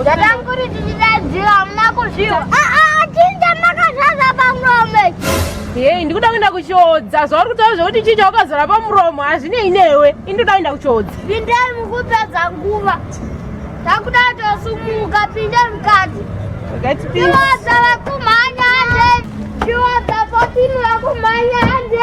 Ndakanguri tichidadzira hamuna kuzviwa. Ah ah chinja makazvaza pamuromo. Hey, ndikuda kuenda kuchodza. Zvauri kutaura zvekuti chinja wakazara pamuromo hazvinei newe. Indoda kuenda kuchodza. Pindai mukupedza nguva. Takuda tosumuka pindai mukati. Wakati pindai. Chiwaza vakumhanya hande. Chiwaza potini vakumhanya hande.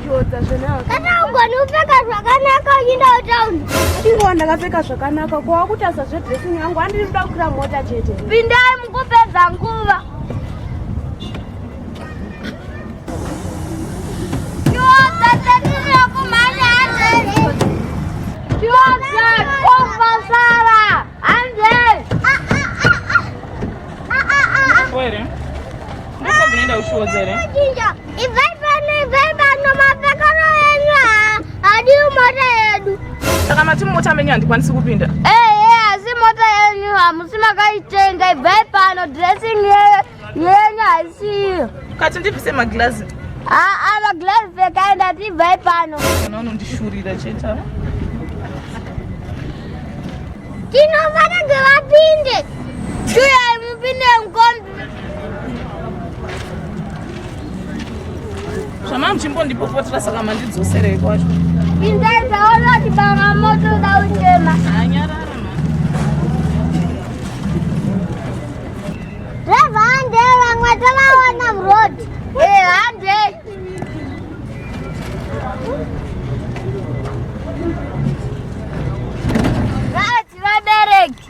kana ugoni upfeka zvakanaka uchienda kutown ndingowa ndakapfeka zvakanaka ko wakutasa zvedressing yangu handiri kuda kukwira mota chete pindai mukupedza nguva Where? Ndiko kunoenda ushuwo dzere? Ibvai pano, ibvai pano, mapekano enyu hadiwi mota yedu. Saka mati mota menyu handikwanisi kupinda? Ehe, asi mota yenyu hamusi makaitenga, ibvai pano, dressing yenyu haisiyo. Kati ndibvise maglazi? Haa, maglazi pfekai ndati ibvai pano. Kana unondishurira chete. Tinova tagevapinde. Shuya mupinde mkombi. zvamava muchimbondipopotera saka mandidzoserei kwacho indai taona kuti banga moto da uchema anyarara dreva hande vamwe tovaona mroad e eh, hande vabereki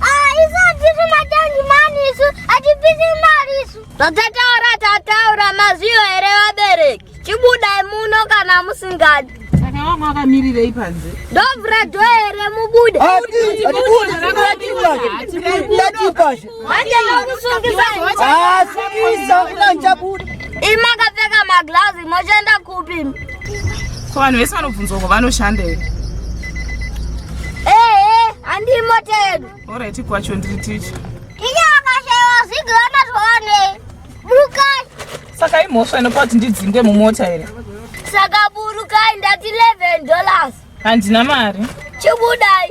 Ah, isu hatisi matangi mani isu hatipisi mari isu. Zvakataura tataura maziyo here vabereki. Chibudai muno kana musingadi. Saka wako akamirirei panze? Ndovhura dho here mubude. Ndatipashi. Manje nokusungisa. Ah, sungisa. Unanjabuda. Imakapfeka maglazi mochenda kupi? ko vanhu vese vanobvunzwa ko vanoshanda here ee handii mota yedu orit kwacho ndiri ticha ticha akashaiwa zigila mazwaane burukai saka imhosva inopa kuti ndidzinge mumota here saka burukai ndati 11 dollars handina mari chibudai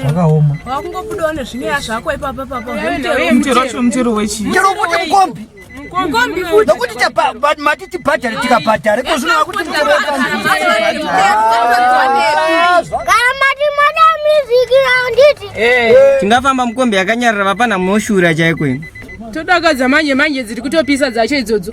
zvakaoma wakungobudawo nezvinyaya zvako ipapa papa mutero wechii mutero wekuti mukombi mukombi futi nokuti mati tibhadhare tikabhadhare ko zvino vakuti kana mati mada music raunditi tingafamba mukombi yakanyarira vapana moshura chaiko ino todakadza manje manje dziri kutopisa dzacho idzodzo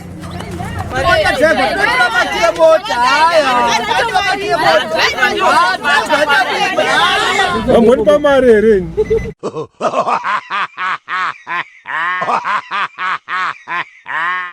Vamweni pamari here ini?